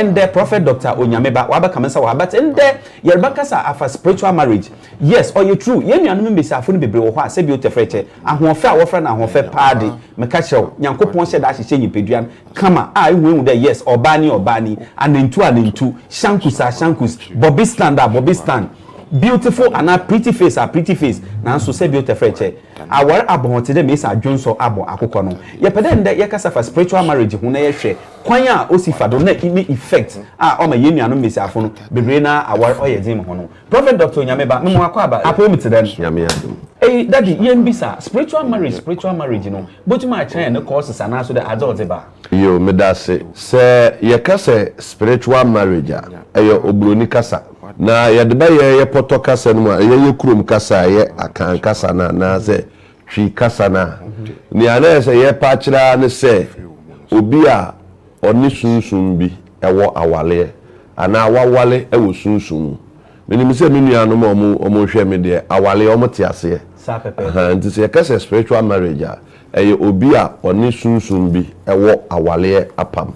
ndɛ prophet doctor onyame ba wabɛka me nsa wɔ ha but ndɛ yɛrebɛkasa afa spiritual marriage yes ɔyɛ true yɛn nuanom mbesiafo no bebree wɔ hɔ a sɛbi o tɛfrɛ kyɛ ahoɔfɛ a wɔfrɛ no ahoɔfɛ paa de meka kyerɛ wo nyankopɔn hyɛ da ahyehyɛ nyimpadua no kama a ehu ehu dɛ yes ɔbaa ni ɔbaa ni anantu anantu shankus a shankus bɔbi stand a bɔbi stand Beautiful anaa pretty face a pretty face nanso sɛ bi ɔtɛfrɛ kyɛ awar abɔn tse dɛ Mesa adwonsɔ abɔ akokɔ no. Yɛpɛ dɛ ndɛ yɛkasa fa spiritual marriage ho na yɛhwɛ kwan a osi fa do na ne effect a ɔma hɛn nuanom mbasiafo no beberee no ara awar ɔyɛ dzen ma hɔn no. Prophet Doctor Onyame Ba, mema w'akwaaba apɔw mu tse dɛn? Nyame adom. Ei daddy yɛmbisa, spiritual marriage spiritual marriage no botum akyerɛ hɛn ne causes anaaso dɛ adze a ɔdze ba? Yoo, meda ase. Sɛ yɛka sɛ spiritual marriage a, ɛyɛ Oburoni kasa. Na yɛde bɛyɛ yɛ pɔtɔ kasa no mu a, ɛyɛ yɛ kurom kasa a, ɛyɛ Akan kasa no a, anaasɛ Twi kasa no a, nea na ɛsɛ sɛ yɛpɛ akyerɛ ara ne sɛ obi a ɔne sunsum bi wɔ awaleɛ anaa wawale wɔ sunsum mu. Menim sɛ me nuanom a wɔrehwɛ me deɛ, awaleɛ, wɔte aseɛ. Ahaa, nti sɛ yɛka sɛ spiritual marriage a, ɛyɛ obi a ɔne sunsum bi wɔ awaleɛ apam.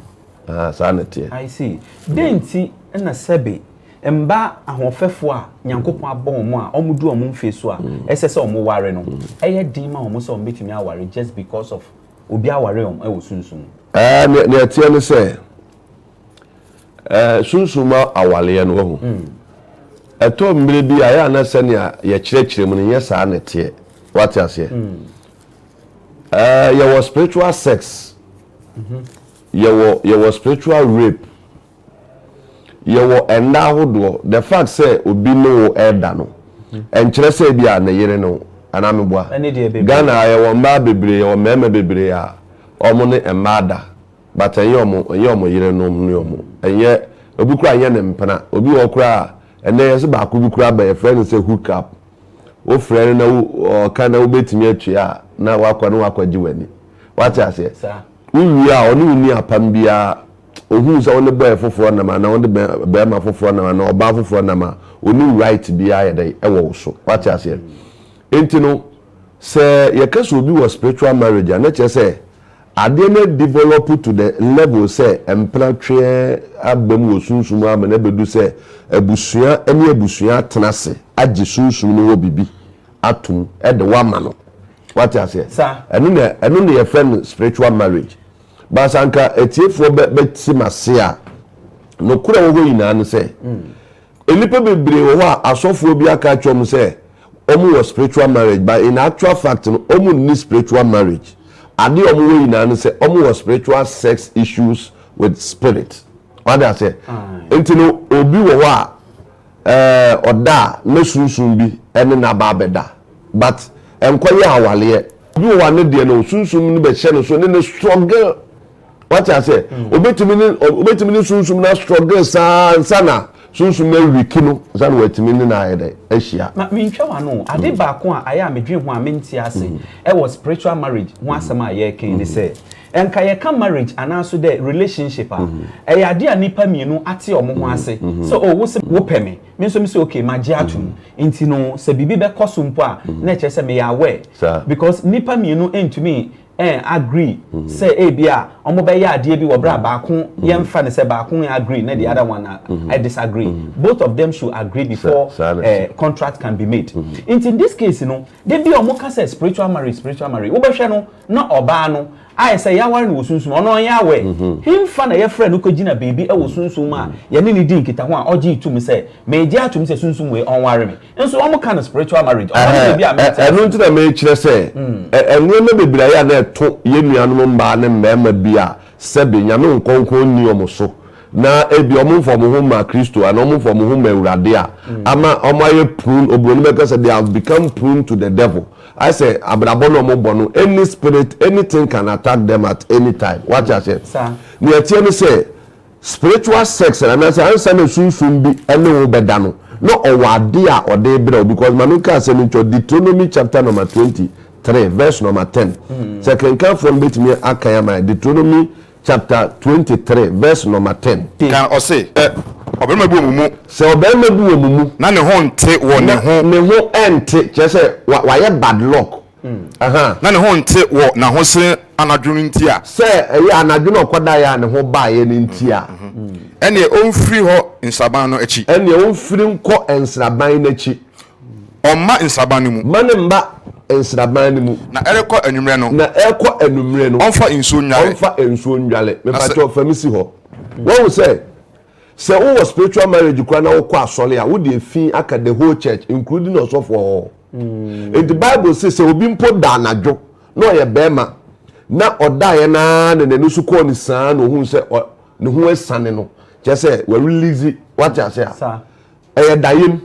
Ahaa, saa na ɛteɛ. I see. Dɛn nti na sɛbe mma ahoɔfɛfoɔ a Nyankopɔn abɔ wɔn a wɔdu wɔn mfeɛ so a ɛsɛ sɛ wɔware no, ɛyɛ den ma wɔn sɛ wɔbɛtumi aware just because of obi aware wɔn wɔ sunsum mu? Ɛɛ, nea, nea ɛteɛ ne sɛ, ɛɛ, sunsum mu awareɛ no, wahu, ɛtɔ mmerɛ bi a, ɛyɛ a na sɛnea yɛkyerɛkyerɛ mu no, nyɛ saa na ɛteɛ. Woate aseɛ? Uh, yɛwɔ spiritual sex mm-hmm. yɛwɔ yɛwɔ spiritual rape yɛwɔ ɛnda ahodoɔ the fact sɛ obi ne wo ɛda no mm-hmm. ɛnkyerɛ sɛ bi a ne yere no anaa meboa ghana yɛwɔ mmaa bebree yɛwɔ mmarima bebree a wɔn ne mmaa da but ɛnyɛ wɔn ɛnyɛ wɔn yere no ne wɔn ɛnyɛ obi kura ɛnyɛ ne mpena obi wɔ kura a ɛnɛ yɛsɛ baako bi kura bɛyɛ fɛn no sɛ hook up Wofrɛ no na wo, ɔka na wobɛtumi atua a, na wakɔ na wakɔgye w'ani. Wate aseɛ? Wowie a, ɔne wo ni apam biara. Ɔhunu sɛ wo ne bɔɛ foforɔ nam anaa wo ne bɛrima foforɔ nam anaa ɔbaa foforɔ nam a, ɔnim right biara yɛ dɛn? Ɛwɔ wo so. Wate aseɛ? Enti no, sɛ yɛka sɛ obi wɔ spiritual marriage a, na kyerɛ sɛ Adeɛ no develop to the level sɛ mpenatweɛ aba mu wɔ sunsum mu ama no abɛdu sɛ abusua ne abusua atena ase agye sunsum no hɔ biribi atom de wo ama no. Wate aseɛ? Ɛno na ɛno na yɛfrɛ no spiritual marriage. But sɛ anka atiefoɔ bɛ bɛte m'ase a, nokorɛ wɔ hɔ nyinaa ne sɛ, Nnipa bebree wɔ hɔ a asɔfoɔ bi aka akyerɛ wɔn sɛ wɔn wɔ spiritual marriage but in actual fact no wɔn nni spiritual marriage. Adeɛ a wɔn wɔ nyinaa ne sɛ wɔn wɔ spiritual sex issues with spirit. Wate aseɛ? Nti no obi wɔ hɔ a ɛɛ ɔda a na sunsum bi ɛne no aba abɛda but ɛnkɔ yɛ awaleɛ. Obi wɔ hɔ a ne deɛ no sunsum no bɛhyɛ ne so ne no struggle. wate aseɛ mm. obɛtumi ne obɛtumi ne sunsum na struggle saa nsa na sunsum na awiki no nsa na watumi ne na ayɛ dɛ ahyia. na mentwa wa no ade mm. baako a ayɛ a medwen ho a mente ase mm. ɛwɔ spiritual marriage ho asɛm a yɛreken ne sɛ nka yɛka marriage anaaso dɛ relationship a mhm. ɛyɛ ade a nipa mmienu ate ɔmo ho mhm. ase mhm. sɛ o oh, wosɛ wopɛ me me nso mi sɛ okay ma gye atum nti no sɛ biribi bɛkɔ so mpo a na ɛkyerɛ sɛ meyɛ aware because nipa mmienu ntumi eh, agree mm-hmm. sɛ ebi a wɔn bɛyɛ adeɛ bi wɔ bere a mm-hmm. baako mm-hmm. yɛn fa ne sɛ baako yɛn agree na the other one a I disagree both of them should agree before eh, contract can be made nti in this case no de bi a wɔn ka sɛ spiritual marriage spiritual marriage wobɛhwɛ no na ɔbaa no ayɛ sɛ yɛaware no wɔ sunsum ɔno ɔnyɛ awɛ mhm. hemfa na yɛfrɛ no kɔgyina baabi wɔ sunsum a mhm. yɛne ne di nkitaho a ɔgye tom sɛ megye atom sɛ sunsum wei ɔnware me Nso wɔn ka no spiritual marriage. Ɔno ne biribi a mɛte ase. Ɛno nti na mekyerɛ sɛ nneɛma bebree ayɛ a na ɛto yɛn nuanom mmaa ne mmarima bi a sɛbe Nyame nkronkron nni wɔn so na ebia wɔn mfa wɔn ho mmaa Kristo anaa wɔn mfa wɔn ho mmaa Awurade a ama wɔn ayɛ prone, obroni bɛka sɛ they have become prone to the devil. Ayɛ sɛ abrabɔ no a wɔn bɔ no any spirit, anything can attack them at any time. Wate aseɛ? Nea ɛteɛ ne sɛ Spiritual sex no anasɛ ansa na sunsum bi ne wo bɛda no na ɔwɔ ade a ɔde brɛ wo because ma menka asɛm yi nkyerɛ wo Deuteronomy chapter number twenty three verse number ten sɛ kenkanfoɔ no bɛtumi akan ama yɛn Deuteronomy chapter twenty three verse number ten. Ka ɔse sɛ ɔbarima bi wɔ mo mu. Sɛ ɔbarima bi wɔ mo mu. Na ne ho nte wɔ ne ho. Na ne ho nte kyerɛ sɛ wayɛ bad luck. Na ne ho nte wɔ n'ahose anadwo no nti a. Sɛ ɛyɛ anadwo na ɔkɔdaeɛ a ne ho baeɛ no nti a. Ɛnneɛ ɔmfiri hɔ nsraban no akyi. Ɛnneɛ ɔmfiri nkɔ nsraban no akyi. Ɔmma nsraban no mu. Mma no mma nsraban no mu. Na ɛrekɔ anwummerɛ no. Na ɛrekɔ anwummerɛ no. Ɔmfa nsuo nnware. Ɔmfa nsuo nnware. Mepakyɛw, fa me si hɔ. Wahu sɛ. Sɛ wo wɔ spiritual marriage koraa na wo kɔ asɔre a wo de efi aka the whole church including ɔsɔfo ɔhɔ. Nti bible se sɛ obi mpo da anadwo na ɔyɛ barima na ɔdaeɛ no ara na n'ani so kɔɔ ne saa na ohuu sɛ ne ho asiane no kyerɛ sɛ wa release wate ase a ɛyɛ dayem.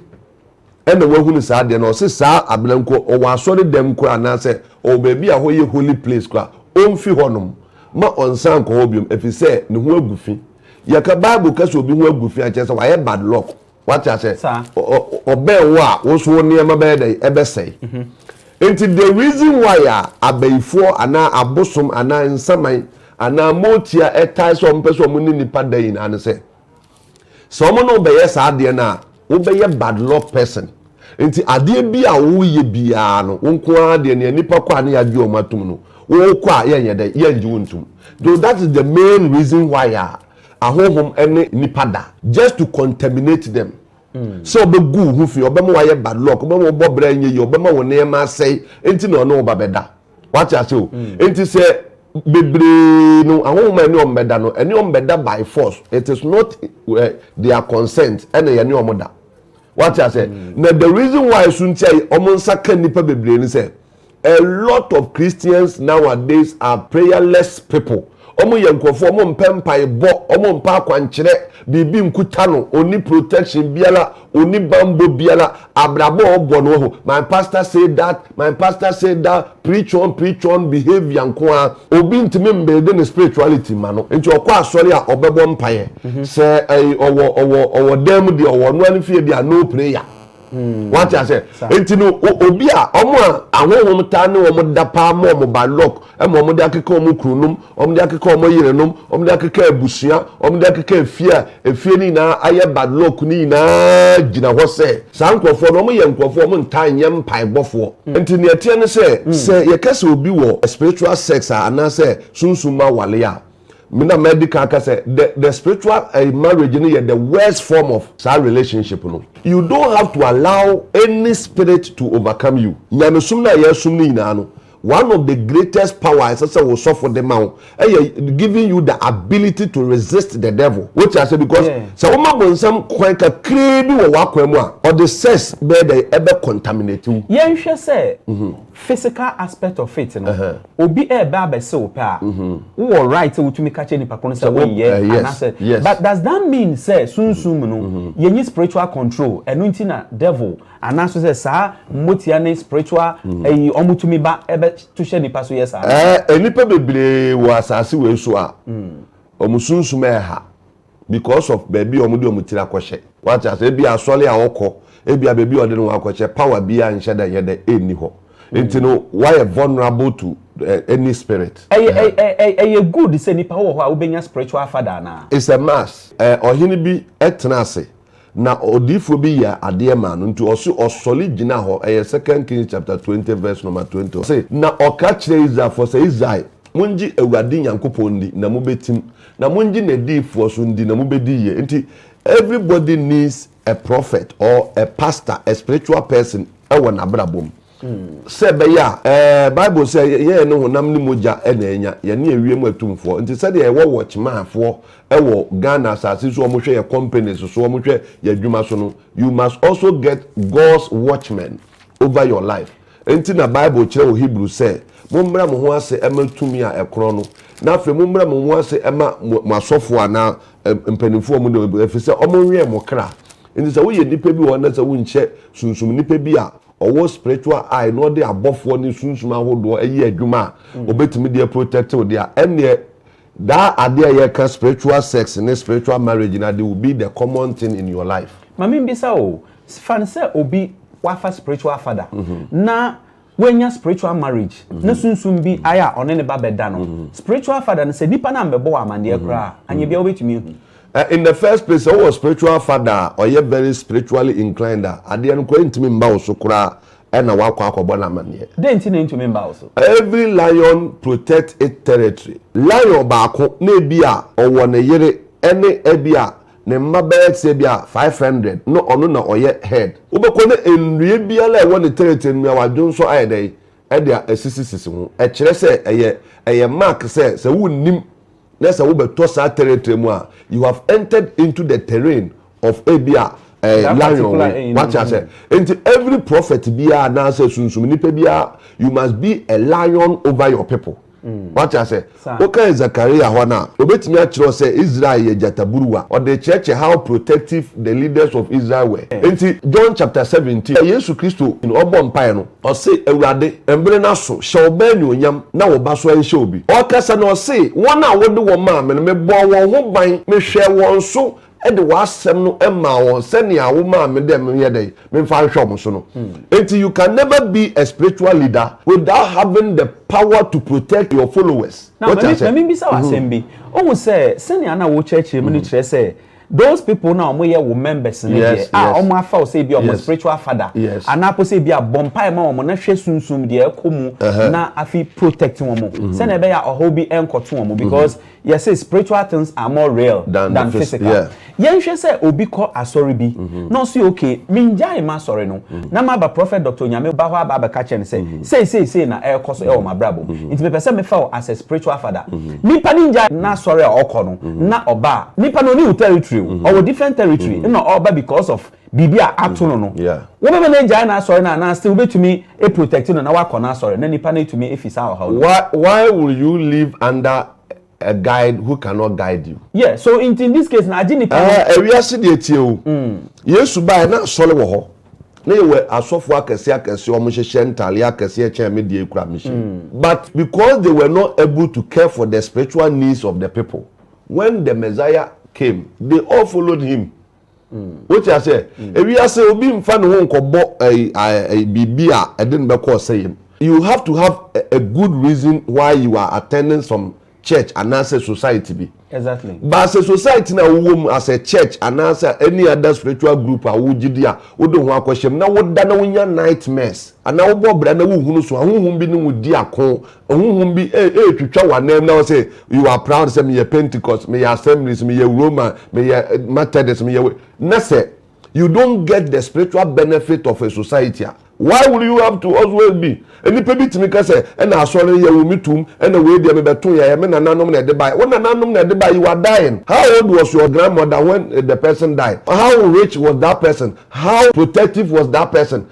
ɛna wahunu saa adeɛ no, ɔse saa abena nko ɔwɔ asɔre dɛm koraa anaasɛ ɔwɔ baabi a hɔ yɛ holy place koraa ɔnfi hɔ nom ma ɔnsan nkɔ hɔ biom ɛfisɛ ne ho agu fi. Yɛka bible ka sɛ obi ho agu fi a kyerɛ sɛ wayɛ bad luck wate asɛ ɔbɛn wo a wo nso wo nneɛma bɛyɛ dɛn ɛbɛsɛe. Nti the reason why a abayifoɔ anaa abosom anaa nsaman anaa mootia ɛtae sɛ ɔmo pɛ sɛ ɔmo ne nipa da nyinaa ne sɛ, Sɛ wɔn ne wo bɛyɛ saa adeɛ no a, wobɛyɛ bad luck person. Nti adeɛ bi a woreyɛ biara no, wo nko ara deɛ nea nnipa kɔ a ne yɛagye wɔn atom no, worekɔ a yɛnyɛ dɛn? Yɛngye wo ntom. Though that is the main reason why a ahonhom ne nnipa da. Just to contaminate them. Sɛ ɔbɛgu wo ho fi, ɔbɛma woayɛ bad luck, ɔbɛma wobɔ bra nyɛ yie, ɔbɛma wo nneɛma asɛe, nti na ɔne wo ba bɛda. wate ase o hmm. nti sɛ bebree no ahohoma ɛne wɔn bɛda no ɛne wɔn bɛda by force it is not uh, their consent ɛna yɛne wɔn da wate ase hmm. na the reason why so nti a wɔn nsa ka nipa bebree ni sɛ a lot of christians nowadays are prayerless people Ɔmo yɛ nkorɔfo ɔmo mpɛ mpaebɔ, ɔmo mpɛ akwankyerɛ, biribi nkuta no, onni protection biara, onni banbɔ biara, abrabɔ a ɔbɔ no wahu, my pastor say that, my pastor say that, preach on preach on behaviour nko ara. Obi ntumi mbuilde ne spirituality mma no, nti ɔkɔ asɔre a ɔbɛbɔ mpaeɛ, sɛ ɛyi ɔwɔ ɔwɔ ɔwɔ dan mu deɛ ɔwɔ, ɔno ara ne fie deɛ a no prayer. Hmm. wate asɛ nti no obi a ɔmo a ahohom taa ne ɔmo da paa ma ɔmo ba lɔk ɛma ɔmo de akeka ɔmo kununom ɔmo de akeka ɔmo yerenom ɔmo de akeka abusua ɔmo de akeka efie a efie ne nyinaa ayɛ ba lɔk ne nyinaa gyina hɔ sɛ saa nkurɔfoɔ no ɔmo yɛ nkurɔfoɔ ɔmo ntaa nyɛ mpaebɔfoɔ hmm. nti nea ɛteɛ ne sɛ hmm. sɛ yɛka sɛ obi wɔ spiritual sex a anaasɛ sunsum awale a Me na madi kan aka sɛ the the spiritual ɛyi marriage no yɛ the worst form of saa relationship no. You don't have to allow any spirit to overcome you. Nyamesom no a yɛsom no nyinaa no, one of the greatest power a ɛsɛ sɛ wo sɔfo de ma wo ɛyɛ giving you the ability to resist the devil. Wote aseɛ because Yeah. sɛ woma bonsam kwan kakraa bi wɔ w'akwan mu a, ɔde sex bɛyɛ dɛ ɛbɛ contaminate wo. Yɛnhwɛ sɛ Physical aspect of it no, obi reba abɛse wo pɛ a, wowɔ right sɛ wotumi ka kyerɛ nipa ko no sɛ wonyɛ anaasɛ but does that mean sɛ sunsum mu no yɛnyi spiritual control ɛno nti na devil anaaso sɛ saa mmotia ne spiritual ayi wɔn tumi ba ɛbɛ to hyɛ nipa so yɛ saa? Ɛɛ nnipa bebree wɔ asaase wei so a wɔn sunsum ɛha because of baabi a wɔde wɔn tiri akɔhyɛ. Wate aseɛ? Ebia asɔre a wɔkɔ, ebia baabi a wɔde ne ho akɔhyɛ, power biara nhyɛ da nyɛ dɛ nni hɔ. Nti no, woayɛ vulnerable to any spirit. Ɛyɛ ɛ ɛ ɛ ɛyɛ good sɛ nipa wowɔ hɔ a wobɛnya spiritual father anaa? It's a must. Ɛ Ɔhene bi tenaa ase. Na odiyifoɔ bi yɛɛ adeɛ maa no, nti ɔse ɔsɔre gyinaa hɔ, ɛyɛ Second Kings chapter twenty verse number twenty, ɔse, Na ɔka kyerɛɛ Israelfoɔ sɛ, Israel, mongye Awurade Nyankopɔn ndi, na mobɛtim, na mongye n'adiyifoɔ nso ndi, na mobɛdi yie. Nti everybody needs a prophet or a pastor, a spiritual person wɔ n'abrabɔ mu. Sɛ ɛbɛyɛ a, ɛɛ, Bible sɛ, Yɛyɛ ne honam ne mogya na anya, yɛne ewiem atumfoɔ. Nti sɛdeɛ yɛwɔ watchmanfoɔ wɔ Ghana asase so a wɔhwɛ yɛn companies so, wɔhwɛ yɛn adwuma so no, you must also get God's watchmen over your life. Enti na Bible kyerɛ wɔ Hebrew sɛ, Mommrɛ mo ho ase mma tumi a ɛkorɔn no, na afei mommrɛ mo ho ase mma mo asɔfoɔ anaa mpanimfoɔ a wɔde wɔn, ɛfiri sɛ wɔwɛn mo kra. Enti sɛ woyɛ nipa bi wɔ hɔ na sɛ wonhyɛ sunsum nipa bi a, ɔwɔ spiritual eye na ɔde abɔfoɔ ne sunsum ahodoɔ ɛyɛ adwuma a ɔbɛtumi deɛ protect wo deɛ ɛnneɛ daa adeɛ a yɛka spiritual sex ne spiritual marriage na they will be the common thing in your life. Mame mbisa o, fan sɛ obi wafa spiritual father na wanya spiritual marriage na sunsum bi ayɛ a ɔne ne ba bɛda no, spiritual father no sɛ nipa no ammɛbɔ wo amaneɛ koraa a anyɛ biara wobɛtumi ahu? Na in the first place sɛ wowɔ spiritual father a ɔyɛ very spiritually inclined a, adeɛ no koraa ntumi mma wo so koraa ɛna woakɔ akɔbɔ no amaneɛ. Dɛn nti na ɛntumi mma wo so? Every lion protect it territory. Lion baako na ebi a ɔwɔ ne yere ɛne ɛbi a ne mma bɛyɛ te sɛ ebi a five hundred na ɔno na ɔyɛ head. Wobɛkɔ na nnua biara a ɛwɔ ne territory no mmeawa dwo nso ayɛ dɛn ɛde a asisisisi ho. Ɛkyerɛ sɛ ɛyɛ ɛyɛ mark sɛ sɛ wonnim na sɛ wobɛtɔ saa territory mu a, you have entered into the terrain of ebi a eh, That lion particular we enemy. wate asɛ nti every prophet biara anaasɛ sunsum nipa biara you must be a lion over your people wate asɛ Saa. woka zakaria hɔ no a obɛtumi akyerɛ wo sɛ israel yɛ gyataburuwa ɔde kyerɛkyerɛ how protective the leaders of israel were nti john chapter 17 yesu kristo ɔbɔ mpaeɛ no Ɔse, Awurade, mmere no aso, hyɛ wo ba anuonyam, na wo ba so anhyɛ obi. Ɔrekasa no, ɔse, Wɔn a wode wɔn maa me no, mebɔɔ wɔn ho ban, mehwɛɛ wɔn so de w'asɛm no maa wɔn sɛnea womaa me dɛ menyɛ dɛn? Memfa nhwɛ wɔn so no. Enti you can never be a spiritual leader without having the power to protect your followers. Now, ma me, ma me mbisa wo asɛm bi. Ohu sɛ sɛnea na wokyerɛkyerɛ mu no kyerɛ sɛ Those people no a wɔn yɛ wo members no deɛ a wɔn afa wo sɛ ebi a wɔn spiritual father anaa po sɛ ebi a bɔ mpae ma wɔn na hwɛ sunsun deɛ ɛkɔ mu na afi protect wɔn mm-hmm. sɛnea ɛbɛyɛ a ɔhaw bi ɛnkɔto wɔn mm-hmm. because yɛ sɛ spiritual things are more real than, than physical yɛn hwɛ sɛ obi kɔ asɔre bi mm-hmm. na ɔsi okay mi ngya ema asɔre no na ma ba prophet doctor nyame ba hɔ aba abɛka kyɛn sɛ sei sei sei na ɛkɔ so ɛwɔ ma brabo nti mepɛ sɛ mefa wo as a spiritual father. Nipa no ngya na asɔre a ɔkɔ no na ɔba a nipa no ɔni wo territory o ɔwɔ different territory ɛna ɔba because of biribi a ato no no wo bɛma no agyae na asɔre no anaa still wo bɛtumi a protect no na wakɔ na asɔre na nipa no atumi afi saa ɔhaw no mu. Why will you live under a guide who cannot guide you. Yeah so nti in this case no agye nipa no. Ɛɛ ɛwiase deɛ tie o Yesu baɛ na asɔre wɔ hɔ. Na yɛwɔ asɔfo akɛse akɛse ɔmo hyehyɛ ntaare akɛse ɛkyɛn me deɛ kura me hyɛ. But because they were not able to care for the spiritual needs of the people when the Messiah came they all followed him wote aseɛ ewiase obi nfa ne ho nkɔbɔ ɛyi ɛyi biribi a ɛde no bɛkɔ ɔsɛyɛ mu you have to have a good reason why you are attending some church anaasɛ society bi. Exactly. But as a society na wowɔ mu as a church anaasɛ any other spiritual group a wogye di a wode ho akɔhyɛ mu na woda na wonya nightmares anaa wobɔ bra na wohunu so a honhom bi ne wo di ako honhom bi ɛretwitwa w'anam na wɔsɛ you are proud sɛ meyɛ Pentecost meyɛ Assemblies meyɛ Roman meyɛ Methodist meyɛ na sɛ you don't get the spiritual benefit of a society a, why will you have to always be Nnipa bi tumi ka sɛ, ɛna asɔre no yɛwo me tum, ɛna wei deɛ mebɛtoeɛ, ɛyɛ me nananom na ɛde baeɛ. Wo nananom na ɛde baeɛ, you are dying. How old was your grandmother when the person died? How rich was that person? How protective was that person?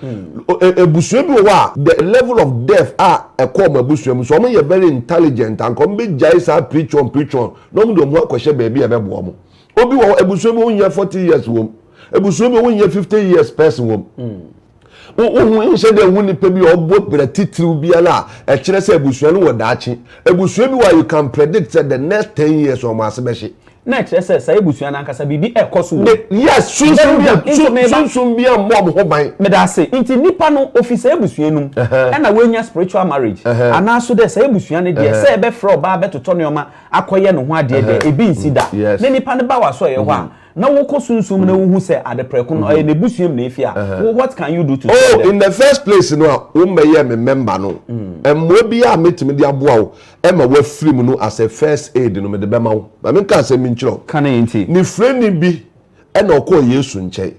Abusua bi wɔ hɔ a, the level of death a ɛkɔɔ wɔn abusua mu, sɛ wɔyɛ very intelligent a, anka wɔbɛgyae saa preach on preach on na wɔde wɔn ho akɔhyɛ baabi a ɛbɛboa wɔn. Obi wɔ hɔ ebusua bi wonyɛ forty years wɔm ebusua bi wonyɛ fifty years person wɔm. Wohu nhyɛ dɛ hu nipa bi a ɔbɔ bra titiriw biara a ɛkyerɛ sɛ ebusua no wɔ daakye. Ebusua bi wɔ a you can predict sɛ the next ten years wɔn ase bɛhye. Na ɛkyerɛ sɛ saa ebusua no ankasa biribi ɛkɔ so wɔ. Yes sunsun bi a sunsun bi a mmɔ wɔn ho ban. Meda ase nti nipa no ofi saa ebusua no mu ɛna wanya spiritual marriage anaa so dɛ saa ebusua no deɛ sɛ ɛbɛfrɛ ɔbaa bɛtotɔ nneɛma. akɔyɛ ne ho adeɛ deɛ, ebi nsi da. Ne nipa no ba w'asɔeɛ hɔ a, na wokɔ sunsum mu na wohu sɛ ade prɛko no ɔyɛ n'abusua mu na efi a, what can you do to stop them? Oh, in the first place no a wommɛyɛɛ me member no, mmoa biara a mɛtumi de aboa wo ma woafiri mu no as a first aid no mede bɛma wo. Ma menka asɛm bi nkyerɛ wo. Ka ne nti. Ne frɛni bi na ɔkɔɔ Yesu nkyɛn.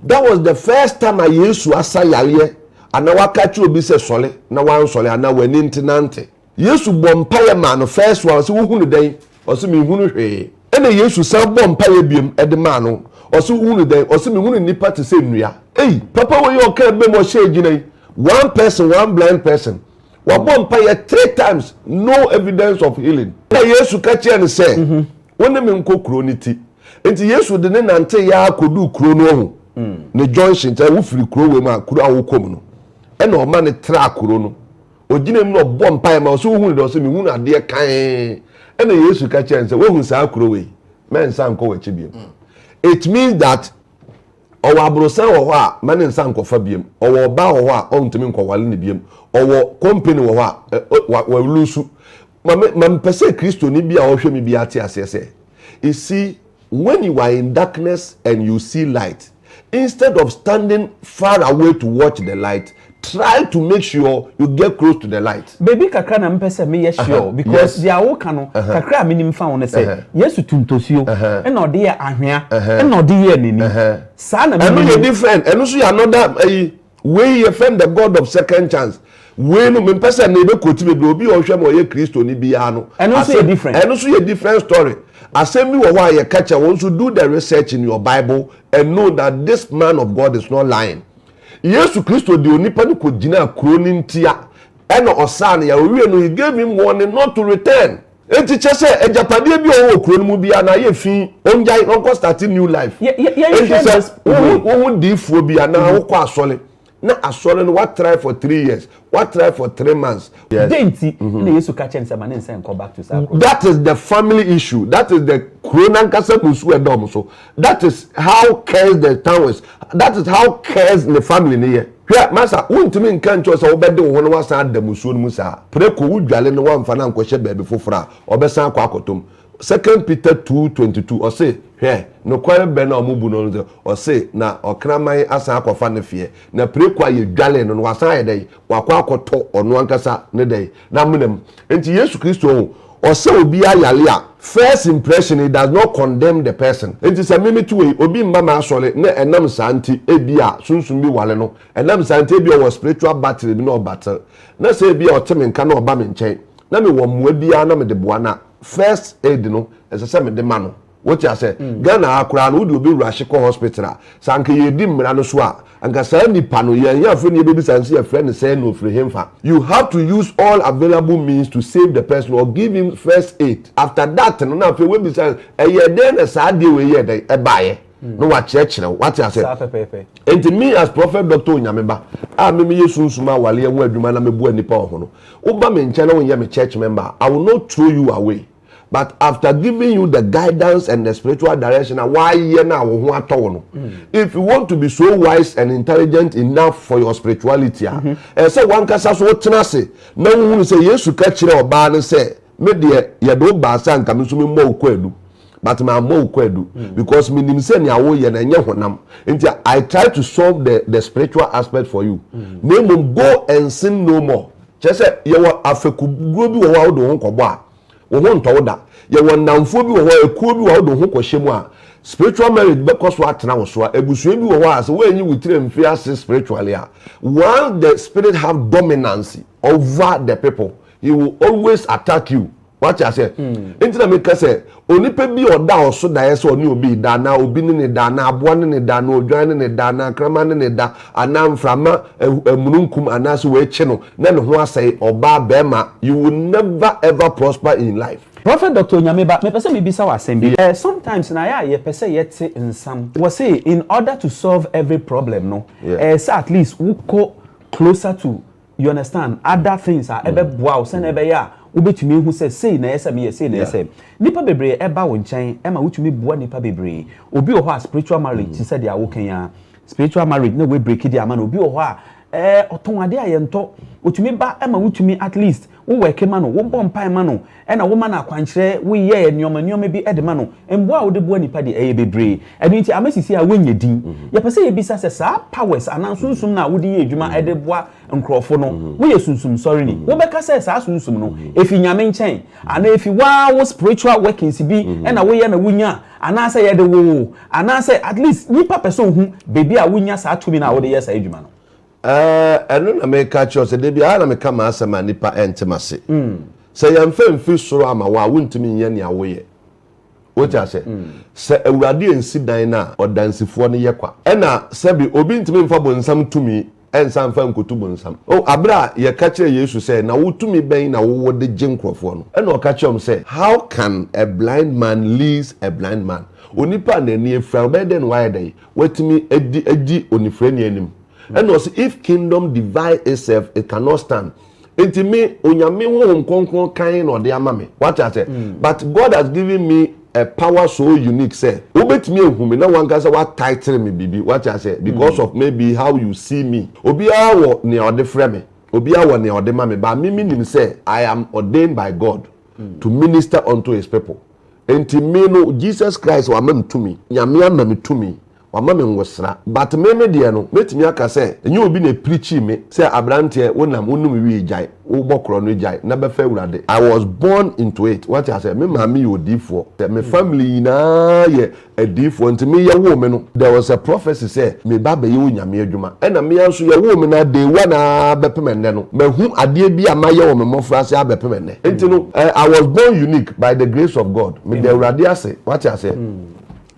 That was the first time a Yesu asa yareɛ anaa waka akyerɛ obi sɛ sɔre na wansɔre anaa w'ani nte nante. Yesu bɔɔ mpaeɛ maa no first one, ɔse wohunu dɛn? Ɔse menhunu hwee. Ɛna Yesu san bɔɔ mpaeɛ biom de maa no, ɔse wohunu dɛn? Ɔse mehunu nnipa te sɛ nnua. Ei! Papa wei ɔkaa abam ɔhyɛɛ agyina yi, one person, one blind person, wabɔ mpaeɛ three times, no evidence of healing. Ɛna Yesu ka kyerɛɛ no sɛ, wo ne me nkɔ kuro no ti. Nti Yesu de no nanteeɛ ara kɔduu kuro no ɔho no junction, sɛ wofiri kuro wei mu a, kuro a wokɔ mu no. Ɛna ɔma no traa kuro no Ɔgyina mu na ɔbɔ mpaeɛ ma ɔsɛ wohunu dɛ ɔsɛ mehunu adeɛ kann ɛna Yesu ka kyerɛ sɛ woahu saa kuro wei mɛnsa nkɔ w'akyi biam mm. it means that ɔwɔ aborosan wɔ hɔ a ma ne nsa nkɔfa biam ɔwɔ ɔbaa wɔ hɔ a ɔntumi nkɔwale ne biam ɔwɔ kɔmpani wɔ hɔ a wɔlusu ma mepɛ sɛ kristoni bi a ɔhwɛ me bi ate aseɛ sɛ ɛsi When you are in darkness and you see light, instead of standing far away to watch the light, try to make sure you get close to the light. Baabi kakra na mepɛ sɛ meyɛ sure o, because deɛ a woreka no, kakra a menim fa ho ne sɛ, Yesu tu ntosuo, ɛna ɔde yɛ ahwea, ɛna ɔde yɛɛ n'ani. Saa na menim. Ɛno yɛ different, ɛno nso yɛ another ayi. Wei yɛfrɛ no the God of second chance. Wei no mempɛ sɛ na yɛbɛ quote bebree. Obi a ɔhwɛ ma ɔyɛ Kristoni biara no. Ɛno nso yɛ different. Ɛno nso yɛ different story. Asɛm bi wɔ hɔ a yɛka kyerɛ wɔn nso do the research in your Bible and know that this man of God is not lying. Yesu Kristo de onipa no kɔgyinaa kuro no ntia ɛna ɔsaa no yare. Ɔwiee no he gave him warning not to return. Enti kyɛ sɛ agyapadeɛ bi a ɔwɔ wɔ kuro no mu biara no ayɛ fii, ɔngyae na ɔnkɔ starte new life. Yɛ, yɛ, yɛnhwɛ Enti sɛ this wo way. ho, wo ho diifoɔ bi anaa wokɔ asɔre na asɔre no woatrae for three years, woatrae for three months. Yes. Dɛn nti na Yesu ka kyerɛɛ no sɛ ma ne nsa nkɔ back to saa kuro no? That is the family issue, that is the kuro no ankasa mu nsuo a ɛda wɔn so. that is how cares the town is that is how cares ne family ne yɛ hwɛ masa wontumi nka nkyɛw sɛ wobɛde wo ho no wasan ada musuo no mu saa preko wo dwale no wamfa no ankɔhyɛ baabi foforɔ a ɔbɛsan akɔ akɔtom second peter 2:22 ɔse hwɛ nokware bɛ na ɔmo bu no no ɔse na ɔkraman asan akɔfa ne feɛ na preko a yɛdwale no no wasan ayɛ dɛn wakɔ akɔtɔ ɔno ankasa ne dɛn N'amena mu. Enti Yesu Kristo ho, ɔsɛ obi ayare a, first impression it does not condemn the person. Enti sɛ me meto wei, obi mma m'asɔre na ɛnam saa nti ebia sunsum bi ware no, ɛnam saa nti ebia ɔwɔ spiritual battery bi na ɔbattle, na sɛ ebia ɔte me nka na ɔba me nkyɛn na mewɔ mmoa biara na mede boa no a, first aid no ɛsɛ sɛ mede ma no. Wote asɛ? Ghana ha koraa no, wode obi rush kɔ hospital a, sɛ anka yɛredi mmara no so a, anka saa nipa no, yɛn ahiafo ne yɛbɛbisa no sɛ yɛfrɛ no sɛn na ɔfiri henfa. You have to use all available means to save the person or give him first aid. After that no, na afei woabisa no, ɛyɛɛ dɛn na saa adeɛ wei yɛɛ dɛn? Ɛbaeɛ? Na wakyerɛkyerɛ wo. Woate asɛ? Saa pɛpɛɛpɛ. Enti me as Prophet Doctor Onyame Ba a me meyɛ sunsum awareɛ ho adwuma na meboa nnipa wɔ ho no, woba me nkyɛn na wonyɛ me church member a, I will not throw you away. but after giving you the guidance and the spiritual direction na wayɛ na wo ho atɔ wo no mm. if you want to be so wise and intelligent enough for your spirituality a mm-hmm. ɛsɛ wankasa so wotena ase na wohunu sɛ yesu ka kyerɛ ɔbaa no sɛ me deɛ yɛde wo baa sɛ anka me nso memmɔ wo kɔ adu but mammɔ wo kɔ adu mm. because menim sɛ nea woyɛ no ɛnyɛ honam nti i try to solve the, the spiritual aspect for you mm. na mmom go and sin no more Kyerɛ sɛ, yɛwɔ afekuguo bi wɔ hɔ a wode wo ho kɔbɔ a, wo ho ntɔ wo da. Yɛwɔ nnamfoɔ bi wɔ hɔ, ekuo bi wɔ hɔ a wode wo ho kɔhyɛ mu a, spiritual marriage bɛkɔ so atena wo so. Abusua bi wɔ hɔ a, sɛ woanyi wo tiri amfi ase spiritually a, once the spirit have dominance over the people, he will always attack you. wate aseɛ nti na meka sɛ onipa bi a ɔda ɔso daeɛ sɛ ɔne obi da anaa obi ne ne da anaa aboa ne ne da anaa odwan ne ne da anaa nkrama ne ne da anaa mframa amununkum anaasɛ wɔakyi no na ne ho asɛe ɔbaa bɛrima you will never ever prosper in life. Prophet Doctor Onyameba, mepɛ sɛ mebisa wo asɛm bi. Ɛ, sometimes no ayɛ a yɛpɛ sɛ yɛte nsɛm. Wɔse in order to solve every problem no, ɛyɛ sɛ at least wokɔ closer to. you understand, other things a ɛbɛboa wo sɛnea ɛbɛyɛ a wobɛtumi ahu sɛ sei na ɛyɛ sɛ meyɛ, sei na ɛyɛ sɛ. Nnipa bebree ɛba wo nkyɛn ɛma wotumi boa nnipa bebree. Obi wɔ hɔ a spiritual marriage te sɛ deɛ woka yi ara, spiritual marriage na wɔabreaki de ama no. Obi wɔ hɔ a ɛɛ ɔtɔn adeɛ a yɛntɔ, ɔtumi ba ɛma wotumi at least wo worki ma no, wobɔ mpaeɛ ma no. Ɛna woma no akwankyerɛ, woyɛ nnoɔma nnoɔma bi de ma no. Mmoa a wode boa nnipa deɛ ɛyɛ bebree. Ɛno nti ama sisi a wonyɛ din. Yɛpɛ sɛ yɛbisa sɛ saa powers anaa sunsum no a wode yɛ adwuma de boa nkorɔfo no, woyɛ sunsum sɔreni? Wobɛka sɛ saa sunsum no ɛfi Nyame nkyɛn? Anaa ɛfi woaa wo spiritual workings bi na woyɛ na wonya? Anaa sɛ yɛde woo wo? Anaa sɛ at least nipa pɛ sɛ ɔhu baabi a wonya saa tumi no a wode yɛ saa adwuma no? Ɛɛ, ɛno na meka akyerɛ wo sɛ da biara na meka m'asɛm a nnipa nte m'ase. Sɛ yɛmfa mfiri soro amma wo a, wontumi nyɛ nea woyɛ. Wote aseɛ? Sɛ Awurade ansi dan no a, ɔdansifoɔ no yɛ kwa. Ɛna, sɛbe, obi ntumi mfa bonsam tumi nsan mfa nkotu bonsam. O, aberɛ a yɛka kyerɛɛ Yesu sɛ, Na wo tumi bɛn na wowɔ de gye nkorɔfoɔ no? Ɛna ɔka kyerɛɛ wɔn sɛ, How can a blind man leads a blind man? Onipa a n'ani afira no, ɔbɛyɛ dɛn na wayɛ dɛn? Watumi adi, adi onifirani anim? ɛna ɔsi if kingdom divide itself it cannot stand nti me onyame honhom kronkron kan na ɔde ama me wate ase mm. but God has given me a power so unique sɛ wobɛtumi ehu me na wankasa wa title me biribi wate ase because mm. of maybe how you see me obiara wɔ nea ɔde frɛ me obiara wɔ nea ɔde ma me ba me mi nim sɛ I am ordained by God mm. to minister unto his people nti me no Jesus Christ wama me tumi nyame ama me tumi Wama me ngosra but me me deɛ no mɛtumi aka sɛ ɛnyɛ obi na ɛpirikyii me sɛ abranteɛ wo nam wo nom wii gyae wo bɔ korɔ no gyae na bɛfa awurade I was born into it wate aseɛ me maame yɛ odiifoɔ sɛ me family nyinaa yɛ adiifoɔ nti me yɛ woo me no there was a prophecy sɛ me ba bɛyɛ onyame adwuma ɛna mea nso yɛ woo me no day one aa bɛpem ɛnnɛ no mahu adeɛ bi a mayɛ wɔ me mmɔfraase aa bɛpem ɛnnɛ nti no I was born unique by the grace of God meda awurade ase wate aseɛ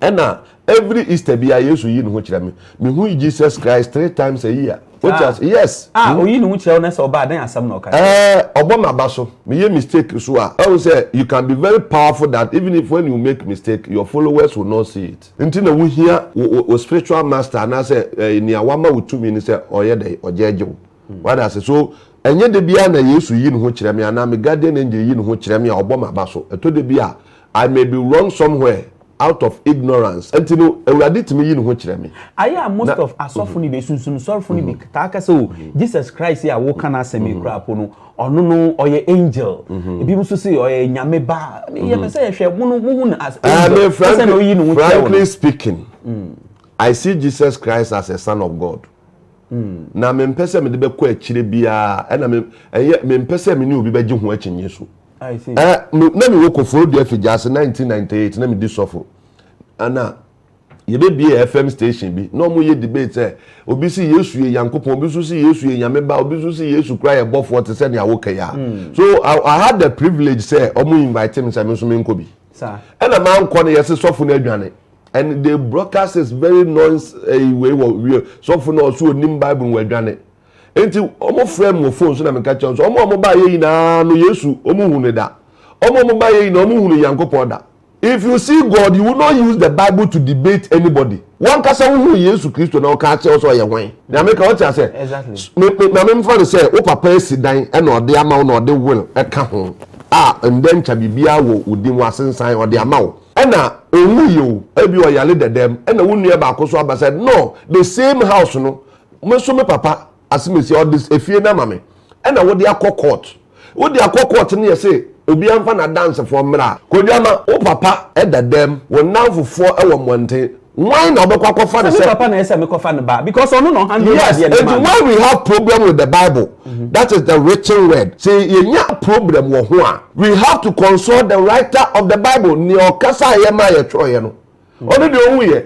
ɛna Every Easter biara Yesu yi ne ho kyerɛ me. Me hu Jesus Christ three times a year. Wote ah. ase? Yes. Ah, mm. oyi ne ho kyerɛ wo na sɛ ɔbaa dɛn asɛm na ɔka kyerɛ. Eh, ɔbɔ m'aba so. Me yɛ mistake so a. Ɛwɔ sɛ you can be very powerful that even if when you make mistake your followers will not see it. Nti na wohia wo wo spiritual master anaasɛ eh, nea wama wo tumi ne sɛ ɔyɛ dɛ ɔgyɛgye wo. Mm. Wada ase so ɛnyɛ de bia na Yesu yi ne ho kyerɛ me anaa me guardian angel yi ne ho kyerɛ me a ɔbɔ m'aba so. Ɛtɔ de bi a I may be wrong somewhere. out of ignorance nti no awurade tumi yi ne ho kyerɛ me. Ayɛ a most of asɔfo no bi sunsum sɔrfo no bi taa ka sɛ oh Jesus Christ yi a wo ka n'asɛm yi koraa po no ɔno no ɔyɛ angel ebi mo nso se ɔyɛ nyame ba yɛ pɛ sɛ yɛ hwɛ mo no mo hu no as angel pɛ sɛ na oyi ne ho kyerɛ wo frankly speaking I see Jesus Christ as a son of God na me mpɛ sɛ me de bɛkɔ akyire biara ɛna me ɛyɛ me mpɛ sɛ me ne obi bɛgye ho akyinnye so. I see. Eh, me, na mewɔ kɔforo dua figya ase 1998 na medi sɔfo ana yɛbɛbie fm station bi na ɔmo yɛ debate sɛ obi si yesu yɛ nyankopɔn obi nso si yesu yɛ nyame ba obi nso si yesu kora yɛ bɔfoɔ te sɛ nea wokɛ yɛ a hmm. so I, I had the privilege sɛ ɔmo invite me sɛ me nso menkɔ bi ɛna mankɔ no yɛse sɔfo no adwane and the broadcast is very noise ɛyi eh, wei wɔ wie sɔfo no ɔso onim bible wɔ adwane Enti wɔfrɛɛ me wɔ fon so na meka kyerɛɛ wɔn sɛ, wɔn a wɔbaeɛ nyinaa no, Yesu, wɔnhunu no da. Wɔn a wɔbaeɛ nyinaa, wɔnhunu Nyankopɔn da. If you see God, you will not use the Bible to debate anybody. Wo ankasa wohuu Yesu Kristo na wɔka kyerɛɛ wo sɛ ɔyɛ hwan? Nea meka, wote aseɛ? Me, me, ma memfa no sɛ wo papa asi dan na ɔde ama wo na ɔde will ka ho a, ndɛ nkya biribiara wɔ wo din, wɔasensan, ɔde ama wo. Ɛna ɔnwuiɛ o, ebia ɔyare dɛdɛɛm, ɛna wo nua baako nso aba sɛ, no, the same house no, Me nso me papa asemesi ɔde efie no ama me ɛna wode akɔ court wode akɔ court no yɛ se obiara nfa n'adansefoɔ mmra a. Koduama wo papa da dɛm wo nnamfofoɔ wɔ mmɔnten wan na wobɛkɔ akɔfa no sɛ. Sɛ me papa na ɛsɛ mekɔfa no ba because ɔno na ɔhandle adeɛ no ma me. Yes enti why we have problem with the bible that is the written word se yɛnya problem wɔ ho a we have to consult the writer of the bible nea ɔkasaeɛ ma yɛtwerɛeɛ no. ɔno deɛ ɔhu yɛ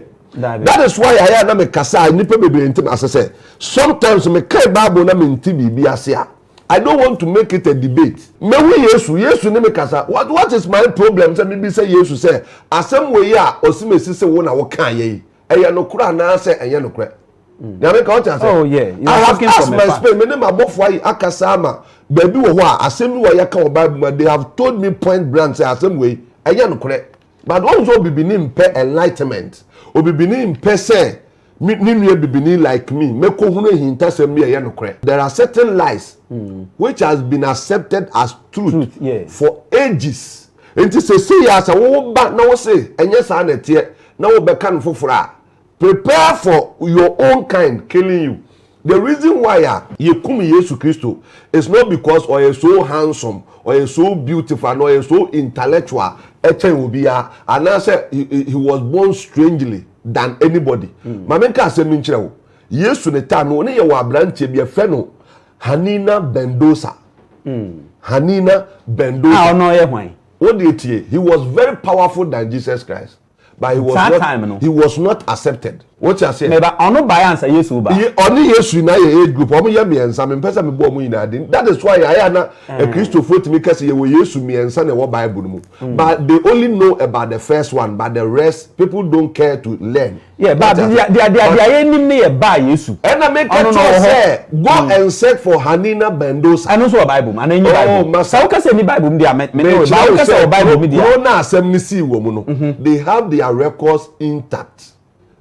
that is why ayɛ na me kasa a nipa bebree nti na ase sɛ sometimes me kan bible na me nti biribi ase a I don't want to make it a debate mehu yesu yesu ne me kasa what what is my problem sɛ mebi sɛ yesu sɛ asɛm wei a ɔsi me si se wo na wo kan yɛ yi ɛyɛ nokorɛ anaasɛ ɛnyɛ nokorɛ nyame ka ɔte ase oh yeah you are talking from my spirit me ne ma bɔfo ayi akasa ama baabi wɔ hɔ a asɛm bi wɔ yɛka wɔ bible ma they have told me point blank sɛ asɛm wei ɛnyɛ nokorɛ But wohu sɛ obibini mpɛ enlightenment. Obibini mpɛ sɛ me ne nua bibini like me mɛkɔhunu ahintasɛm bi a ɛyɛ nokorɛ. There are certain lies which has been accepted as truth, Truth, yes. for ages. Nti sesei a sɛ wowo ba na wose ɛnyɛ saa na ɛteɛ na wobɛka no foforɔ a, Prepare for your own kind killing you the reason why a yɛ kum Yesu Kristo is not because ɔyɛ so handsome ɔyɛ so beautiful anaa ɔyɛ so intellectual ɛkyɛn obiara anaa sɛ he was born strangely than anybody mm. Maame nka asɛm mi nkyerɛ wo Yesu ne taa no ne yɛ wɔ aberanteɛ bi ɛfɛ no Hanina Bendosa mm. Hanina Bendosa a ɔno ɔyɛ hwan wo deɛ tie he was very powerful than Jesus Christ. but he was Saa not time no. he was not accepted wọ́n ti ase. meba ɔno baeɛ ansa yesu reba Ye- ɔne yesu nyinaa yɛ age group ɔmo yɛ mmiɛnsa mempɛ sɛ mebɔ ɔmo nyinaa din that is why ayɛ a na akristofoɔ tumi ka sɛ yɛwɔ yesu mmiɛnsa na ɛwɔ bible no mu but they only know about the first one but the rest people don't care to learn yɛ ba Wate ase? deɛ deɛ deɛ But- deɛ yɛnim ne yɛ ba yesu ɛna meka Ɔno na kyerɛ ɔwɔ hɔ. sɛ Go and search for Hanina Bendosa. Ɛno nso wɔ Bible mu anaa ɛnni Bible mu? Oh, masa. Sɛ wokasa ɛnni Bible mu deɛ a, me ne wo ba. Wokasa wɔ Bible mu deɛ a. Kuro na asɛm no sii wɔ mu no, mhm. they have their records intact.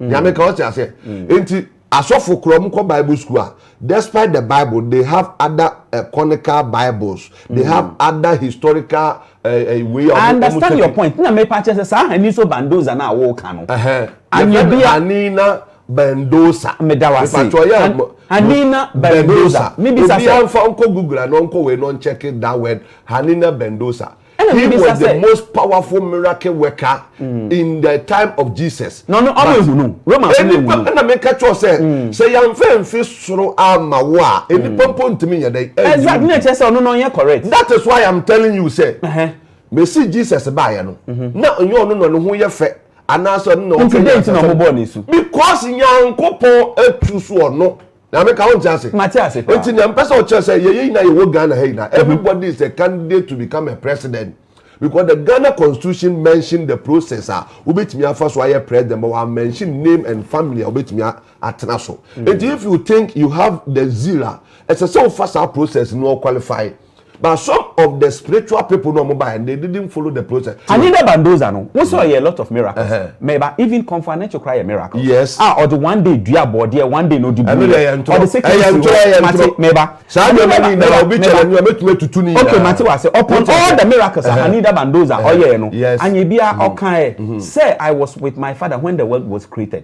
Mhm. Nyame ka ɔte aseɛ. Mhm. Nti asɔfo korɔ mu kɔ Bible school a, despite the Bible, they have other uh, conical Bibles. They have other historical Eh, eh, way of I understand your point. Na me pa kyerɛ sɛ saa Haniso Bandoza na awo ka no. Anibia. Hanina Bendosa. Meda wase. Mepatwa ɔyɛ An Hanina Bendosa. Mibisa sɛ. Obiara nfa nkɔ Google anaa nkɔ wei na ɔnkyɛk that word Hanina Bendosa. Ɛna mibisa sɛ. He was the most powerful miracle worker mm. in the time of Jesus. Na ɔno ɔmo ehu no. Romans ɔmo ehu no. Ɛna meka kyerɛ sɛ mm. sɛ yanfɛ nfi soro ama wo a enipa mm. mpo ntumi nyɛ dɛ. Exactly na ɛkyɛ sɛ ɔno na ɔnyɛ correct. That is why I am telling you sɛ. Mesi Jesus baayɛ no. Mm-hmm. Na ɔnyɛ ɔno na ɔno ho yɛ fɛ. anaasɛ ɔno na ɔpɛ nti dɛn ti na ɔmobɔɔ ne su because nyankopɔn atu so ɔno na meka wo nte ase mate ase paa nti na mpɛ sɛ ɔkyerɛ sɛ yɛyɛ nyina yɛwɔ ghana ha nyina mhm. everybody is a candidate to become a president because the ghana constitution mention the process a wobɛtumi afa so ayɛ president but wa mention name and family a wobɛtumi atena so mhm. nti if you think you have the zeal a ɛsɛ sɛ wofa saa process no qualify but some of the spiritual people no ɔmo baeɛ they didn't follow the process. Anina Bandoza no wo sɛ ɔyɛ a lot of miracles Uh-huh. mɛba even kɔnfɔ anɛkye koraa yɛ miracle Yes. a ɔde one day dua abɔdeɛ one day na ɔde Ɛno deɛ ɛyɛ ntorɔ. ɔde second Ɛyɛ ntorɔ, ɛyɛ mate ntorɔ. mɛba Saa nneɛma Mɛba, no nyinaa, mɛba, obi mɛba. challenge a, mɛtumi atutu ne okay nyinaa. mate wɔ ase upon Wote all ase? the miracles a Uh-huh. Anida Bandoza Uh-huh. ɔyɛɛ no Yes. anyɛ biara ɔkaeɛ sɛ I was with my father when the world was created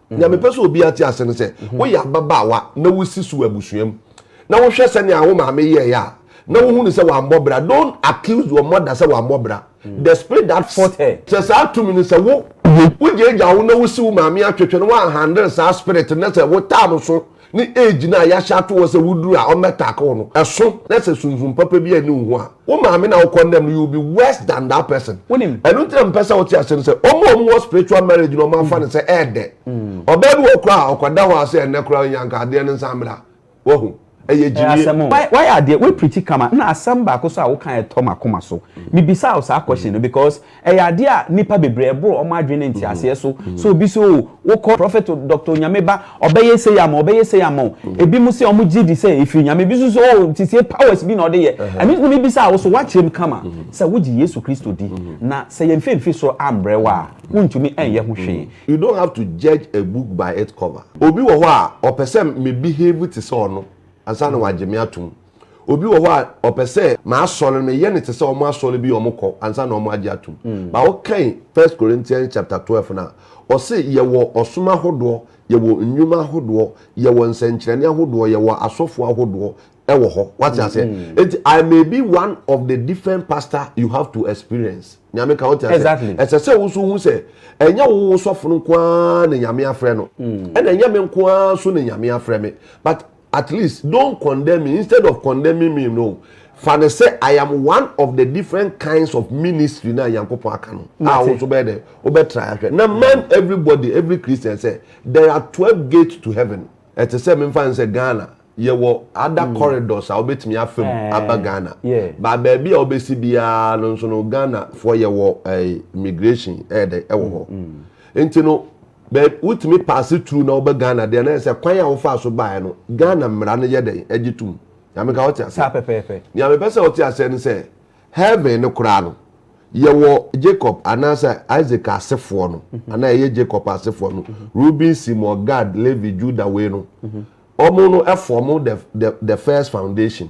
nea mepɛ sɛ obi ate ase no sɛ woyɛ ababaawa na wosi so wɔ abusua mu na wohwɛ sɛnea wo maame yɛeɛ a na wohu no sɛ wammɔ bra don't accuse your mother sɛ wammɔ bra mm. the spirit that fought her sɛ saa tumi no sɛ wo wogyaagya wo na wosi wo maame atwetwe no woahandle saa spirit no sɛ wotaa no so ne age no a yɛahyɛ ato hɔ sɛ woduru a wɔmmɛtake wo no, ɛso na sɛ sunsum papa bi anni wo ho a, wo maame na wo condemn no, you will be worse than that person. Wonim. Ɛno nti na mepɛ sɛ wote aseɛ no sɛ, wɔn a wɔwɔ spiritual marriage no wɔafa no sɛ ɛɛdɛ. Ɔbaa bi wɔ hɔ koraa a, ɔkɔda hɔ a sɛ ɛnnɛ koraa ɔnyɛ a, anka adeɛ no nsan mmra. Wahu? Ɛyɛ Ɛyɛ gyimie. asɛm o. Wa wayɛ adeɛ, wa preachi kama. Nna asɛm baako so a wokaeɛ tɔ m'akoma so. Mebisaa wo saa question no because. Ɛyɛ adeɛ a nnipa bebree ɛboro wɔn adwene ne nteaseɛ so sɛ obi sɛ oo wokɔ Prophet o, Doctor o, Nyame ba, ɔbɛyɛ sei ama wo, ɔbɛyɛ sei ama wo. Ebinom sɛ wɔn gyedi sɛ ɛfiri Nyame, ebi nso sɛ oo nti sɛ powers bi na ɔde yɛ. Ɛno nti na mebisa wo, so woakyerɛ mu kama sɛ wogye Yesu Kristo di? Na sɛ yɛn fɛ mfiri soro ambrɛ wo a, wontumi ɛnyɛ ho hwee. You don't have to judge a book by its cover. Obi wɔ hɔ a ɔpɛ sɛ me behave te sɛ ɔno ansa na wagye me atom. Obi wɔ hɔ a ɔpɛ sɛ m'asɔre no meyɛ no te sɛ wɔn asɔre bi a wɔkɔ ansa na wɔagye atom. Mm. Ba wokan First Corinthians chapter twelve no a, ɔse yɛwɔ ɔsom ahodoɔ, yɛwɔ nnwuma ahodoɔ, yɛwɔ nsɛnkyerɛnne ahodoɔ, yɛwɔ asɔfoɔ ahodoɔ ɛwɔ hɔ. Wate aseɛ? Mm -hmm. Enti I may be one of the different pastor you have to experience. Nyame ka wote aseɛ? Exactly. Ɛsɛ sɛ wo nso hu sɛ ɛnyɛ wo wo sɔfo no nko ara na Nyame afrɛ no. Mm. Ɛna ɛnyɛ me nko ara nso na Nyame afrɛ me. But at least don't condemn me instead of condemning me no fa no sɛ i am one of the different kinds of ministry na nyankopɔn aka no a wo nso bɛyɛ dɛ wobɛtra ahwɛ na man everybody every christian sɛ there are twelve gates to heaven ɛte sɛ memfa no sɛ ghana yɛwɔ ada mm. corridors a wobɛtumi afam eh, aba ghana yeah. ba baabi a wobɛsi biara no nso no ghana foɔ yɛwɔ eh, immigration ɛyɛ eh, dɛ ɛwɔ hɔ mm, mm. nti no But wotumi paase through na woba Ghana deɛ na yɛ sɛ kwan a wofaa so baeɛ no Ghana mmara no yɛ dɛn ɛgye tom? Nea meka wote aseɛ? Saa pɛpɛɛpɛ. Nea mepɛ sɛ wote aseɛ ne sɛ Heaven no koraa no yɛwɔ Jacob anaasɛ Isaac asefoɔ no anaa ɛyɛ Jacob asefoɔ no Reuben, Simon, Gad, Levi, Judah wei no wɔn no form the the the first foundation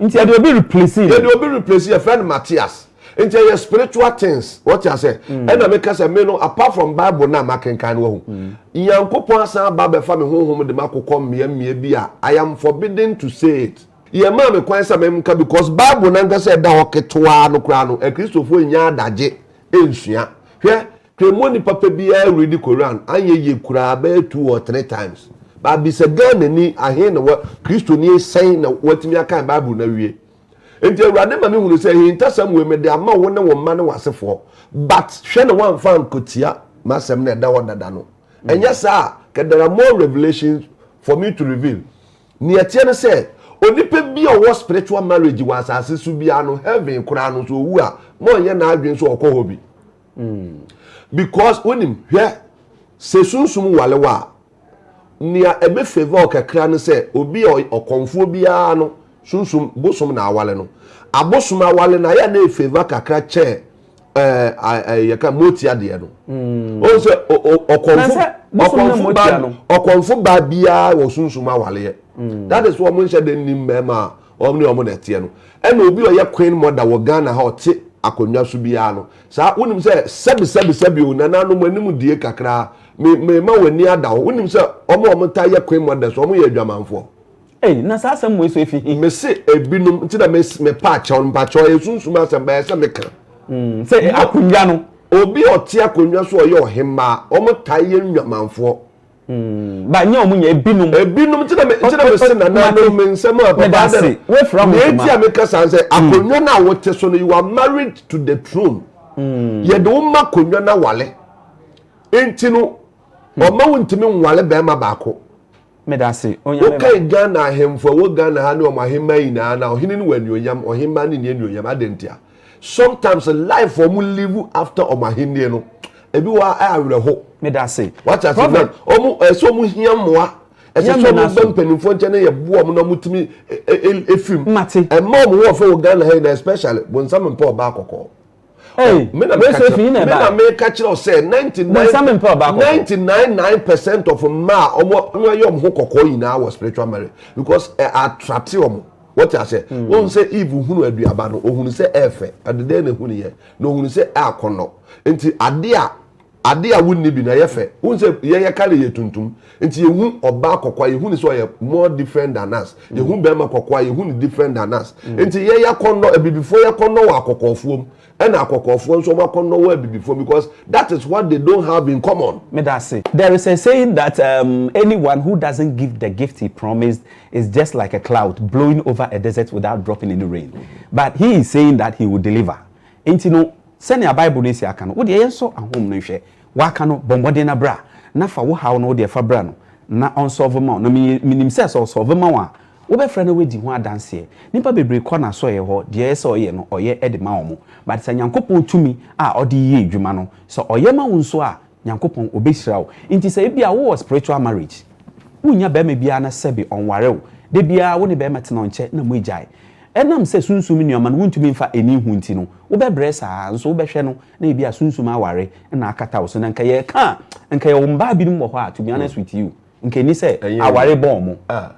Nti yɛde obi replace no. Yɛde obi replace yɛfrɛ no Matthias. Nti ɛyɛ spiritual things wɔte asɛ. Mm. Ɛna meka sɛ me no apart from bible na makenkan no wahu. Mm. Nyankopɔn asan aba bɛfa me honhom de makokɔ mmea mmea bi a I am forbidden to say it. Yɛmaa me kwan sɛ memka because bible nankasa ɛda hɔ ketewaa no koraa no akristofoɔ nnya adagye nsua. Hwɛ Kremoni papa biara redi Koran anyɛ yie koraa bɛyɛ two or three times. But bisa Ghanani ahe na wa Kristoni sɛn na watumi akan Bible no awie. Enti Awurade ma me hunu sɛ ahintasɛm wei mede ama wo ne wo mma ne w'asefoɔ but hwɛ na woamfa ankotia m'asɛm no a ɛda hɔ dada no. Ɛnyɛ saa a kɛ there are more revelations for me to reveal. Nea ɛteɛ ne sɛ onipa biara a ɔwɔ spiritual marriage wɔ asase so biara no heaven koraa no sɛ ɔwu a morenyɛ n'adwene sɛ ɔkɔ hɔ bi. because wonim hwɛ sɛ sunsum wale wo a nea ɛbɛ favor wo kakra no sɛ obi a ɔkɔmfoɔ biara no sunsum bosom na awale no abosom awale na yɛ na ɛfavor kakra kyɛ eh, ah, eh, yɛka motia deɛ no mm. ɔhu sɛ ɔkɔmfo baa biara wɔ sunsum awaleɛ mm. that is wɔ mo nhyɛ de nnim mmarima a Wɔn ne wɔn na ɛteɛ no. Ɛna obi a ɔyɛ Queen Mother wɔ Ghana ha a ɔte akonnwa so biara no, saa, wonim sɛ, sɛbi, sɛbi, sɛbi o, nananom, anim die kakra, me, mema w'ani ada hɔ. Wonim sɛ wɔn a wɔtaa yɛ Queen Mothers, wɔyɛ adwamanfoɔ. Ei, na saa asɛm wei so efi he? Mese ebinom, nti na me, mepa akyɛw no, mpakyɛw, ɛyɛ sunsum asɛm, but ɛyɛ sɛ meka. Mm, sɛ akonnwa no. Obi a ɔte akonnwa so a ɔyɛ ɔhemmaa, wɔtaa yɛ nnwamanfoɔ. Hmm, ba nyɛ ɔmo nyɛ ebinom. ebinom nti na me nti na me se nananom me nsɛm a papa dɛ no wefura ho ntoma nti a me kasa sɛ hmm. akonnwa no a wote so no you are married to the throne hmm. yɛde wo ma akonnwa no awale nti no hmm. ɔma wo ntumi nwale bɛrima baako wokae ghana ahemfo a wɔ ghana ha ne ɔmo ahemma nyinaa na ɔhene no wɔ anuonyam ɔhemma no nni anuonyam adɛn ntia Sometimes life wɔn live after wɔn ahenni no ebi wɔ a awerɛho. Medase. Wate ase na wɔn ɛsɛ wɔn hia mmoa ɛsɛ sɛ wɔn bɛ mpanimfoɔ nkyɛn na yɛ boɔ wɔn na wɔn tumi efim. Mate. Ɛma wɔn ho ɔfɛ wɔ Ghana ha yi na especially bonsam mpɛ ɔbaa kɔkɔɔ. Hey, me na meka kyerɛ me na meka kyerɛ wo sɛ 99 percent of mmaa a wɔn ayɛ wɔn ho kɔkɔɔ nyinaa wɔ spiritual marriage because ɛ atrate wɔn. Wote aseɛ? Wohu sɛ Eve hunu aduaba no, ɔhunu sɛ ɛyɛ fɛ. Ɛde dɛn na ɛhuniiɛ? Na ɔhunu sɛ ɛyɛ akɔnnɔ. Nti adeɛ a adeɛ a wonni bi no, ɛyɛ fɛ. Wohu sɛ yɛn yɛ kale yɛ tuntum. Nti yɛhu ɔbaa kɔkɔɔ a, yɛhu no sɛ ɔyɛ more different than us. Yɛhu barima kɔkɔɔ a, yɛhu no different than us. Nti yɛn yɛ akɔnnɔ, abibifoɔ yɛ akɔnnɔ wɔ akɔkɔɔfoɔ mu. Ɛna akɔkɔɔfoɔ nso wɔn akɔ nnɔwɔ abibifoɔ because that is what they don't have in common. Meda ase. There is a saying that um, anyone who doesn't give the gift he promised is just like a cloud blowing over a desert without dropping any rain. But he is saying that he will deliver. Nti no, sɛnea Bible no si aka no, wodeɛ yɛnsɔ ahom no nhwɛ. Waka no, bɔ mmɔden na bra, na fa wo haw no wodeɛ fa bra no, na ɔnsɔlve ma wo. Na menim sɛ sɛ ɔsɔlve ma wo a, Wobɛfrɛ na wadi ho adanseɛ. Nnipa bebree kɔ n'asɔeɛ hɔ, deɛ ɛyɛ sɛ ɔyɛ no ɔyɛ de ma wɔn. But sɛ Nyankopɔn tumi a ɔde yɛ adwuma no, sɛ ɔyɛ ma wo nso a, Nyankopɔn ɔbɛhyira wo. Nti sɛ ebia wowɔ spiritual marriage, wonnya barima biara na sɛbe ɔnware wo, da biara wo ne barima tena ɔnkyɛ na moagyae. Ɛnam sɛ sunsum nneɛma no wontumi mfa ɛnni ho nti no, wobɛbrɛ saa ara nso wobɛhwɛ no na ebia sunsum aware na akata wo so. Na nka yɛreka a, nka yɛwɔ mmaa binom wɔ hɔ a, to be honest with you, Nkenni sɛ aware bɔ wɔn. Ah!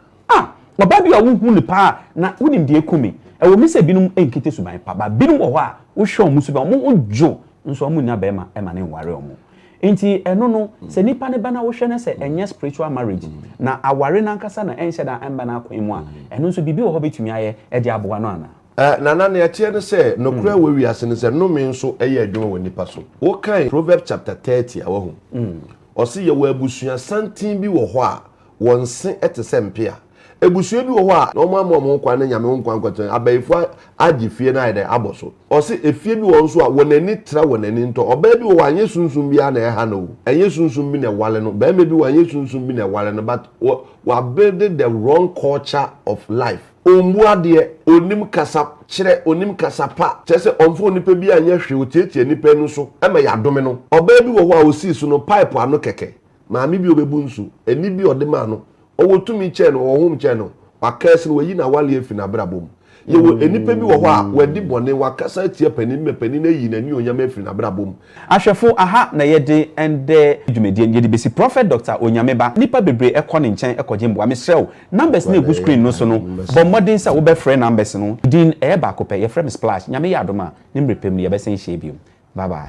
Ɔbaa bi a wuhu no paa na wunim deɛ ekum me. Ɛwɔ mu sɛ binom nkita suban pa, but binom wɔ hɔ a wohwɛ wɔn suban, wɔn ho dwo nso wɔn nnya barima ma no nware wɔn. Enti ɛno no, sɛ nipa no ba na wohwɛ na sɛ ɛnyɛ spiritual marriage na aware no ankasa na ɛnhyɛ da mma no akwan mu a, ɛno nso biribi wɔ hɔ a wobetumi ayɛ de aboa no anaa? Nana, nea ɛteɛ ne sɛ, nokorɛ a ɛwɔ wiase ne sɛ, nnome nso yɛ adwuma wɔ nnipa so. Wokan Proverbs chapter thirty a, wahu? Ɔse yɛwɔ abusua santen bi wɔ hɔ a wɔn se te sɛ mpea. Abusua bi wɔ hɔ a wɔn ama wɔn ho kwan ne Nyame ho kwan nkɔtena. Abayifo agye fie no ayɛ dɛn abɔ so. Ɔse efie bi wɔ hɔ nso a wɔn ani tra wɔn ani ntɔ. Ɔbaa bi wɔ hɔ a ɛnyɛ sunsum biara na ɛha no o, ɛnyɛ sunsum bi na ɛware no. Barima bi wɔ hɔ a ɛnyɛ sunsum bi na ɛware no but wɔ abuilde the wrong culture of life. Ɔmmu adeɛ, ɔnnim kasa kyerɛ, ɔnnim kasa pa, kyerɛ sɛ ɔmfa onipa biara nyɛ hwee, ɔtiatia nnipa ani so ma yɛadome no. Ɔbaa bi wɔ hɔ a ɔsii so no pipe ano kɛkɛ, maame bi a ɔbɛbu nsu, ani bi a ɔde maa no, ɔwɔ tumi kyɛn no, ɔwɔ home kyɛn no, wakɛɛse no, wayi n'awale afiri n'abrabɔ mu. Yɛwɔ nnipa bi wɔ hɔ a wɔadi bɔne, wɔakasa atia panin ma panin ayi n'anuonyam afiri n'abrabɔ mu, Ahwɛfo aha na yɛde ɛndɛ dwumadie no yɛde bɛsi Prɔfɛt Dɔkta Onyame Ba nnipa bebree kɔ ne nkyɛn kɔgye mboa mesrɛ wo numbers no ɛgu screen no so no bɔ mmɔden sɛ wobɛ frɛ numbers no me din ɛyɛ baako pɛ yɛfrɛ me Splash Nyame yɛ adom a ne mmerɛ pɛ mu no yɛbɛsan hyia biom bye bye.